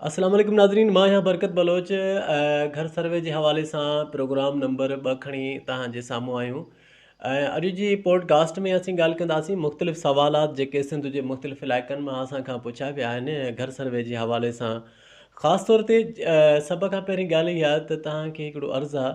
اسلام عليڪم ناظرين مان آهيان برڪت بلوچ گهر سروي جي حوالي سان پروگرام نمبر ٻه کڻي توهان جي سامهون آيون اڄ جي پوڊ ڪاسٽ ۾ اسين ڳالهه ڪنداسين مختلف سوالات جيڪي سنڌ جي مختلف علائقن مان اسان کان پڇا ويا آهن گهر سروي جي حوالي سان خاص طور تي سڀ کان پهرين ڳالهه اها ته توهان کي هڪڙو عرض آهي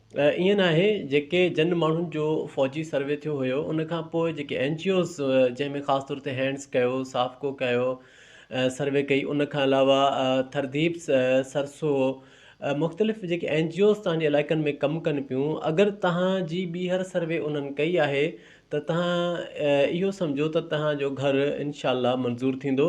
ائين ناهي جيڪي جن ماڻهن جو فوجي سروي ٿيو هيو ان کان پوء جيڪي اين جي اوز جنهن ۾ خاص طور تي هينڊس ڪيو سافڪو ڪيو سروي ڪئي ان کان علاوه ٿرديپ سرسو مختلف جيڪي اين جي اوز تانجي علائقن ۾ ڪم ڪن پيون اگر تهان جي ٻيهر سروي انهن ڪئي آهي ته تهان اهو سمجهو ته تهان جو گهر انشاء الله منظور ٿيندو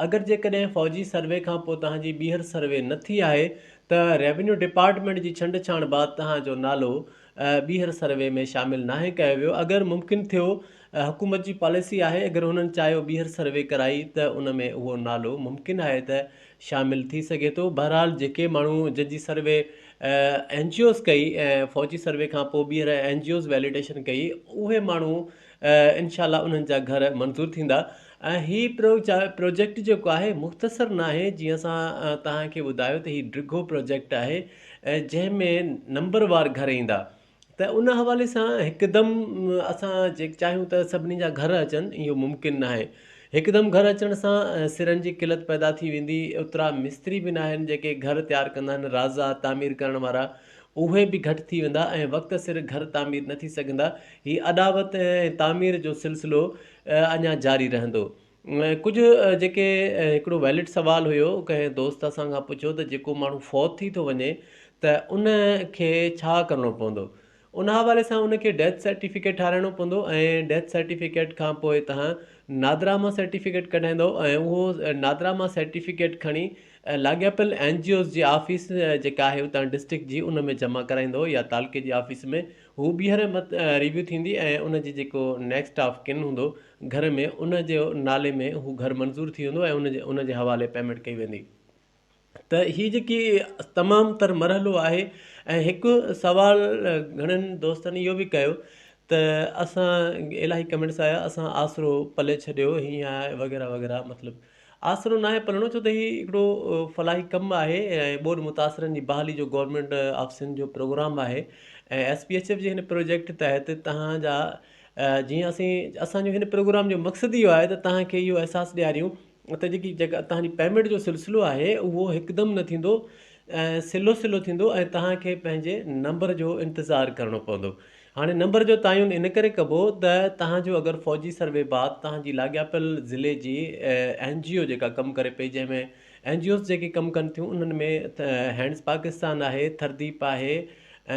اگر جيڪڏهن فوجي سروي کان پوء تهان جي ٻيهر سروي نه ٿي آهي ته ريونيو ڊپارٽمينٽ جي ڇنڊ ڇاڻ بعد توهان جو نالو ٻيهر سروي ۾ شامل ناهي ڪيو ويو اگر ممڪن ٿيو حڪومت جي پاليسي آهي اگر هنن چاهيو ٻيهر سروي ڪرائي ته ان ۾ اهو نالو ممڪن آهي ته شامل ٿي سگهي ٿو بهرحال جيڪي ماڻهو جن جي سروي اين جي اوز ڪئي ۽ فوجي سروي کان پوء ٻيهر اين جي اوز ويليڊيشن ڪئي اهي ماڻهو انشاء الله انهن جا گهر منظور ٿيندا ۽ هي پروجيڪٽ جيڪو آهي مختصر ناهي جيئن اسان توهان کي ٻڌايو ته هي ڊگهو پروجيڪٽ آهي ۽ جنهن ۾ نمبر وار گهر ايندا ته ان حوالي سان هڪدم اسان جيڪ چاهيون ته سڀني جا گهر اچن اهو ممڪن ناهي هڪدم گهر اچڻ سان سرن جي قلت پيدا ٿي ويندي اوترا مستري به ناهن جيڪي گهر تيار ڪندا آهن رازا تعمير ڪرڻ وارا اهي به گهٽ ٿي ويندا ۽ وقت سر گهر تعمير نه ٿي سگهندا. هي اڏاوت ۽ تعمير جو سلسلو اڃا جاري رهندو. ڪجهه جيڪي هڪڙو ويلڊ سوال هيو ڪنهن دوست اسان کان پڇيو ته جيڪو ماڻهو فوت ٿي ٿو وڃي ته ان کي ڇا ڪرڻو پوندو؟ ان حوالي سان ان کي ڊيٿ سرٽيفڪيٽ ٺاهرائڻو پوندو ۽ ڊيٿ سرٽيفڪيٽ کان پوء تهان نادراما سرٽيفڪيٽ ڪڍائيندؤ ۽ اهو نادراما سرٽيفڪيٽ کڻي ۽ لاڳاپيل اين جي اوز جي آفيس جيڪا آهي اتان ڊسٽرڪٽ جي ان ۾ جمع ڪرائيندو يا تعلقي جي آفيس ۾ هو ٻيهر ريويو ٿيندي ۽ ان جي جيڪو نيڪسٽ آف ڪن هوندو گهر ۾ ان جي نالي ۾ هو گهر منظور ٿي ويندو ۽ ان جي حوالي پيمينٽ ڪئي ويندي ته هي جيڪي تمام تر مرحلو آهي ۽ هڪ سوال گهڻن دوستن اهو به ڪيو ته اسان الاهي ڪمينٽس آيا اسان آسرو پلي ڇڏيو هيئن آهي وغيره وغيره مطلب آسرو ناهي پلڻو ڇو ته هي هڪڙو فلاحي ڪم آهي ۽ ٻوڏ متاثرن جي بحالي جو گورنمينٽ آفيسن جو پروگرام آهي ۽ ايس پي ايڇ ايف جي هن پروجيڪٽ تحت توهان جا جيئن اسين اسان جو هن پروگرام جو مقصد اهو آهي ته توهان کي اهو احساس ڏياريون ته جيڪي جيڪا توهان جي پيمينٽ جو سلسلو آهي اهو هڪدم نه ٿيندو سلو سلو ٿيندو ۽ توهان کي پنهنجي نمبر جو انتظار ڪرڻو پوندو هاڻي نمبر جو تعين ان ڪري ڪبو ته توهان جو اگر فوجي سروي بعد توهان جي لاڳاپيل ضلعي جي اين جي او جيڪا ڪم ڪري پئي جنهن ۾ اين جي اوز جيڪي ڪم ڪن ٿيون انهن ۾ هينڊز پاڪستان آهي ٿرديپ آهي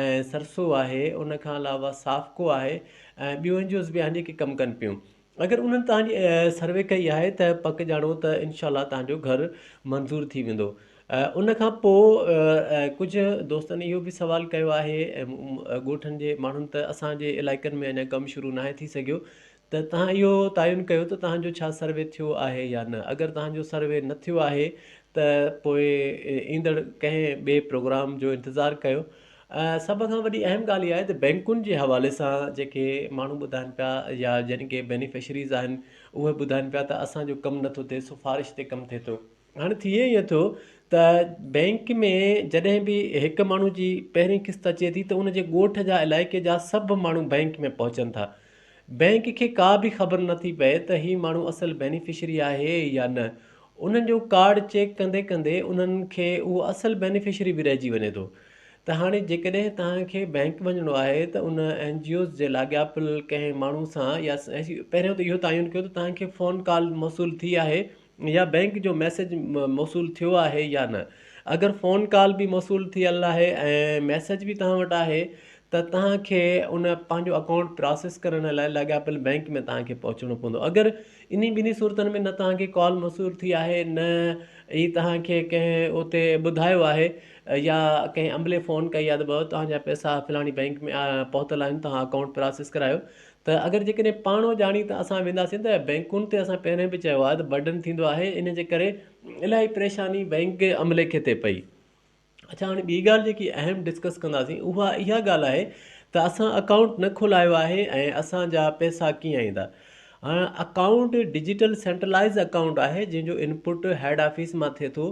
۽ سرسو آهي ان کان علاوه سافڪو آهي ۽ ٻيون اين جي اوز به آهن جيڪي ڪم ڪن پيون اگر انهن توهان جي سروي ڪئي آهي ته پڪ ڄاڻو ته انشاء الله توهان جو گهر منظور ٿي ويندو ان کان پوء ڪجهه دوستن اهو به سوال ڪيو آهي ڳوٺن جي ماڻهن ته اسان جي علائقن ۾ اڃا ڪم شروع ناهي ٿي سگهيو ته توهان اهو تعين ڪيو ته توهان جو ڇا سروي ٿيو آهي يا نه اگر توهان جو سروي نه ٿيو آهي ته پوء ايندڙ ڪنهن ٻئي پروگرام جو انتظار ڪيو سڀ کان وڏي اهم ڳالهه اها آهي ته بئنڪن جي حوالي سان جيڪي ماڻهو ٻڌائن پيا يا جن کي بينيفشريز آهن اهي ٻڌائن پيا ته اسان جو ڪم نٿو ٿئي سفارش تي ڪم ٿئي ٿو هاڻي ٿئي ائين ٿو ته بئنڪ ۾ جڏهن به هڪ ماڻهو جي پهرين قسط اچي ٿي ته ان جي ڳوٺ جا علائقي جا سڀ ماڻهو بئنڪ ۾ پهچن ٿا بئنڪ کي ڪا به خبر نه ٿي پئي ته هي ماڻهو اصل بينيفشري آهي يا نه. انهن جو ڪارڊ چيڪ ڪندي ڪندي انهن کي اهو اصل بينيفشري به رهجي وڃي ٿو. ته هاڻي جيڪڏهن توهان کي بئنڪ وڃڻو آهي ته ان اين جي اوز جي لاڳاپيل ڪنهن ماڻهو سان يا پهريون ته اهو تعين ڪيو ته توهان کي فون ڪال موصول ٿي آهي يا بئنڪ جو ميسيج موصول ٿيو آهي يا نه اگر فون ڪال به موصول ٿيل آهي ۽ ميسيج به توهان وٽ آهي ته توهان کي ان پنهنجو اڪائونٽ پراسيس ڪرڻ لاء لاڳاپيل بئنڪ ۾ توهان کي پهچڻو پوندو اگر انهي ٻنهي صورتن ۾ نه توهان کي ڪال موصول ٿي آهي نه ئي توهان کي ڪنهن اتي ٻڌايو آهي يا ڪنهن عملي فون ڪئي آهي ته ڀاء توهان جا پئسا فلاڻي بئنڪ ۾ پهتل آهن توهان اڪائونٽ پراسيس ڪرايو ته اگر جيڪڏهن پاڻ اڄاڻي ته اسان وينداسين ته بئنڪن تي اسان پهرين به چيو آهي ته برڊن ٿيندو آهي ان جي ڪري الاهي پريشاني بئنڪ جي عملي کي تي پئي. اڇا هاڻي ٻي ڳالهه جيڪي اهم ڊسڪس ڪنداسين اها اها ڳالهه آهي ته اسان اڪائونٽ نه کولايو آهي ۽ اسان جا پئسا ڪيئن ايندا. هاڻ اڪائونٽ ڊجيٽل سينٽرلائز اڪائونٽ آهي جنهن جو انپٽ هيڊ آفيس مان ٿئي ٿو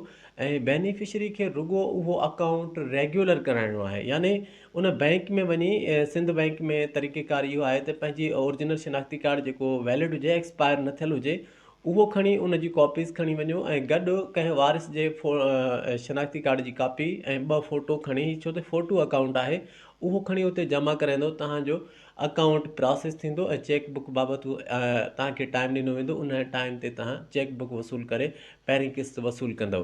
۽ بينيفشري کي رڳو اهو اڪائونٽ ريگيولر ڪرائڻو آهي يعني ان بئنڪ ۾ وڃي سنڌ بئنڪ ۾ طريقي ڪار اهو آهي ته پنهنجي اورجنل شناختي ڪارڊ جيڪو ويلڊ هجي ايڪسپائر نه ٿيل هجي اهو کڻي ان جي ڪاپيز کڻي وڃو ۽ گڏ ڪنهن وارث جي شناختي ڪارڊ جي ڪاپي ۽ ٻه فوٽو کڻي ڇو ته فوٽو اڪائونٽ آهي اهو کڻي اتي جمع ڪرائيندو توهان جو اڪائونٽ پراسيس ٿيندو ۽ چيڪ بڪ بابت توهان کي ٽائم ڏنو ويندو ان ٽائم تي توهان چيڪ بڪ وصول ڪري پهرين قسط وصول ڪندو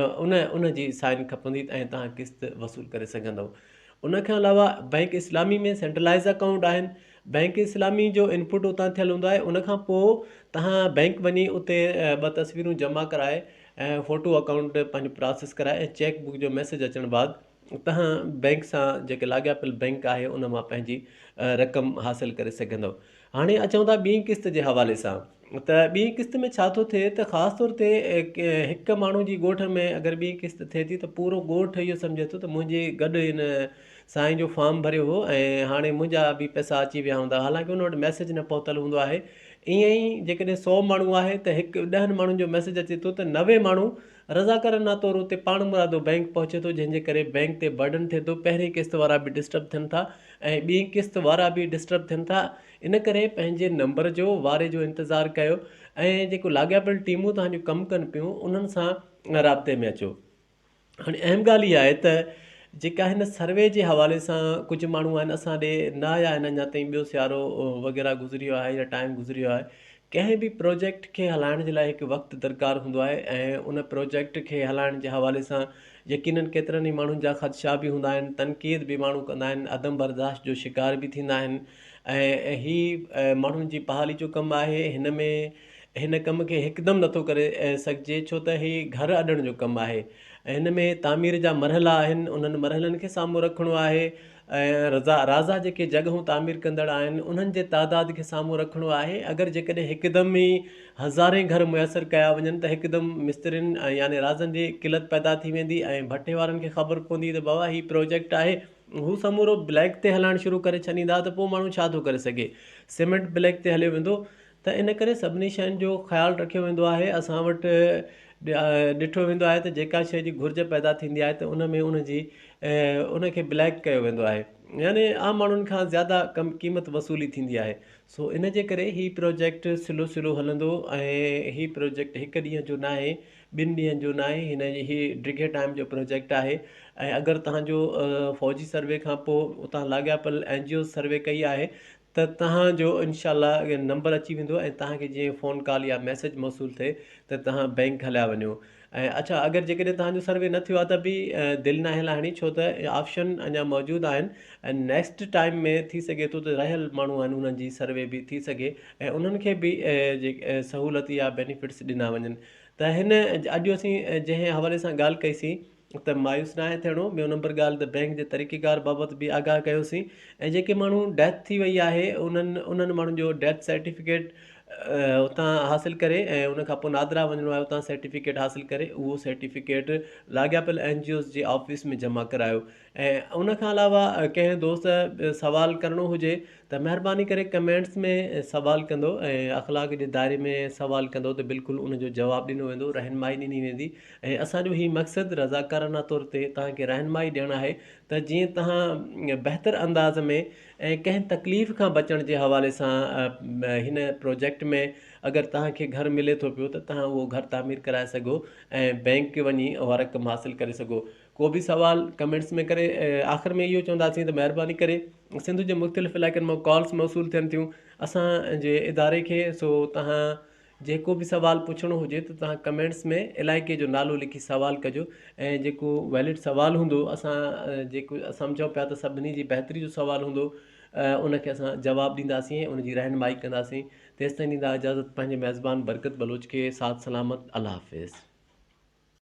ان ان جي سائن کپندي ۽ توهان قسط وصول ڪري سگهندؤ ان کان علاوه بئنڪ اسلامي ۾ سينٽرلائز اڪائونٽ آهن بئنڪ اسلامي جو انپوٽ اتان ٿيل هوندو آهي ان کان پوء توهان بئنڪ وڃي اتي ٻه تصويرون جمع ڪرائي ۽ فوٽو اڪائونٽ پنهنجو پراسيس ڪرائي ۽ چيڪ بڪ جو ميسج اچڻ بعد توهان بئنڪ سان جيڪي لاڳاپيل بئنڪ آهي ان مان پنهنجي رقم حاصل ڪري سگهندؤ هاڻي اچون ٿا ٻي قسط جي حوالي سان ته ٻي قسط ۾ ڇا ٿو ٿئي ته خاص طور تي هڪ ماڻهو جي ڳوٺ ۾ اگر ٻي قسط ٿئي ٿي ته پورو ڳوٺ اهو سمجهي ٿو ته منهنجي گڏ هن سائين جو فارم ڀريو هو ۽ هاڻي منهنجا به پئسا اچي ويا هوندا حالانڪه ان وٽ ميسج نه پهتل هوندو آهي ائين ئي جيڪڏهن سو ماڻهو آهي ته هڪ ڏهن ماڻهن جو ميسج اچي ٿو ته نوي ماڻهو رضاڪارانه طور اتي پاڻمرادو بئنڪ پهچي ٿو جنهن جي ڪري بئنڪ تي برڊن ٿئي ٿو پهرين قسط وارا به ڊسٽرب ٿين ٿا ۽ ٻين قسط وارا به ڊسٽرب ٿين ٿا ان ڪري پنهنجي نمبر جو واري جو انتظار ڪيو ۽ جيڪو لاڳاپيل ٽيمون توهان جون ڪم ڪن پيون انهن سان رابطي ۾ اچو هاڻي اهم ڳالهه اها آهي ته جيڪا هن سروي جي حوالي سان ڪجهه ماڻهو آهن اسان ڏي نه آيا آهن اڃا تائين ٻيو سيارو وغيره گذريو آهي يا ٽائيم گذريو آهي ڪنهن به پروجيڪٽ کي هلائڻ جي لاء هڪ وقت درڪار هوندو آهي ۽ ان پروجيڪٽ کي هلائڻ جي حوالي سان يقينن ڪيترن ئي ماڻهن جا خدشا به هوندا آهن، تنقيد به ماڻهو ڪندا آهن، عدم برداشت جو شڪار به ٿيندا آهن ۽ هي ماڻهن جي بحالي جو ڪم آهي، هن ۾ هن ڪم کي هڪدم نٿو ڪري سگهجي ڇو ته هي گهر اڏڻ جو ڪم آهي ۽ هن ۾ تعمير جا مرحلا آهن، انهن مرحلن کي سامهون رکڻو آهي. ۽ رازا جيڪي جڳهون تعمير ڪندڙ آهن انهن جي تعداد کي سامهون رکڻو آهي اگر جيڪڏهن هڪدم ئي هزارين گهر ميسر ڪيا وڃن ته هڪدم مسترين يعني رازن جي قلت پيدا ٿي ويندي ۽ ڀٽي وارن کي خبر پوندي ته بابا هي پروجيڪٽ آهي هو سمورو بليڪ تي هلائڻ شروع ڪري ڇڏيندا ته پوء ماڻهو ڇا ٿو ڪري سگهي سيمنٽ بليڪ تي هليو ويندو ته ان ڪري سڀني شين جو خيال رکيو ويندو آهي اسان وٽ ڏٺو ويندو آهي ته جيڪا شي جي گهرج پيدا ٿيندي آهي ته ان ۾ ان جي ان کي بليڪ ڪيو ويندو آهي يعني عام ماڻهن کان زياده ڪم قيمت وصولي ٿيندي آهي سو ان جي ڪري هي پروجيڪٽ سلو سلو هلندو ۽ هي پروجيڪٽ هڪ ڏينهن جو ناهي ٻن ڏينهن جو ناهي هن جي هي ڊگهي ٽائيم جو پروجيڪٽ آهي ۽ اگر تهان جو فوجي سروي کان پوء اتان لاڳاپيل اين جي اوز سروي ڪئي آهي ته توهان جو انشاء الله نمبر اچي ويندو ۽ توهان کي جيئن فون ڪال يا ميسيج موصول ٿئي ته توهان بينڪ هليا وڃو ۽ اڇا اگر جيڪڏهن توهان جو سروي نه ٿيو آهي ته به دل ناهي لاهڻي ڇو ته آپشن اڃا موجود آهن ۽ نيڪسٽ ٽائيم ۾ ٿي سگهي ٿو ته رهيل ماڻهو آهن انهن جي سروي به ٿي سگهي ۽ انهن کي به سهولت يا بينيفٽس ڏنا وڃن ته هن اڄ اسين جنهن حوالي سان ڳالهه ڪئي سي ته مايوس ناهي ٿيڻو، ٻيو نمبر ڳالهه ته بئنڪ جي طريقيڪار بابت به آگاهه ڪيوسين ۽ جيڪي ماڻهو ڊيٿ ٿي وئي آهي انهن انهن ماڻهن جو ڊيٿ سرٽيفڪيٽ اتان حاصل ڪري ۽ ان کانپوء نادرا وڃڻو آهي اتان سرٽيفڪيٽ حاصل ڪري اهو سرٽيفڪيٽ لاڳاپيل اين جي اوز جي آفيس ۾ جمع ڪرايو ۽ ان کان علاوه ڪنهن دوست سوال ڪرڻو هجي ته مهرباني ڪري ڪمينٽس ۾ سوال ڪندو ۽ اخلاق جي دائري ۾ سوال ڪندو ته بلڪل ان جو جواب ڏنو ويندو رهنمائي ڏني ويندي ۽ اسان جو هي مقصد رضاڪارانه طور تي توهان کي رهنمائي ڏيڻ آهي ته جيئن توهان بهتر انداز ۾ ۽ ڪنهن تڪليف کان بچڻ جي حوالي سان هن پروجيڪٽ ۾ اگر توهان کي گهر ملي ٿو پيو ته توهان اهو گهر تعمير ڪرائي سگهو ۽ بينڪ وڃي اها رقم حاصل ڪري سگهو ڪو به سوال ڪمينٽس ۾ ڪري آخر ۾ اهو چونداسين ته مهرباني ڪري سنڌ جي مختلف علائقن مان ڪالس موصول ٿين ٿيون اسان جي اداري کي سو توهان جيڪو به سوال پڇڻو هجي ته توهان ڪمينٽس ۾ علائقي جو نالو لکي سوال ڪجو ۽ جيڪو ويلڊ سوال هوندو اسان جيڪو سمجهون پيا ته سڀني جي بهتري جو سوال هوندو ان کي اسان جواب ڏينداسين ۽ ان جي رهنمائي ڪنداسين تيستائين ڏيندا اجازت پنهنجي ميزبان برڪت بلوچ کي ساٿ سلامت الله حافظ.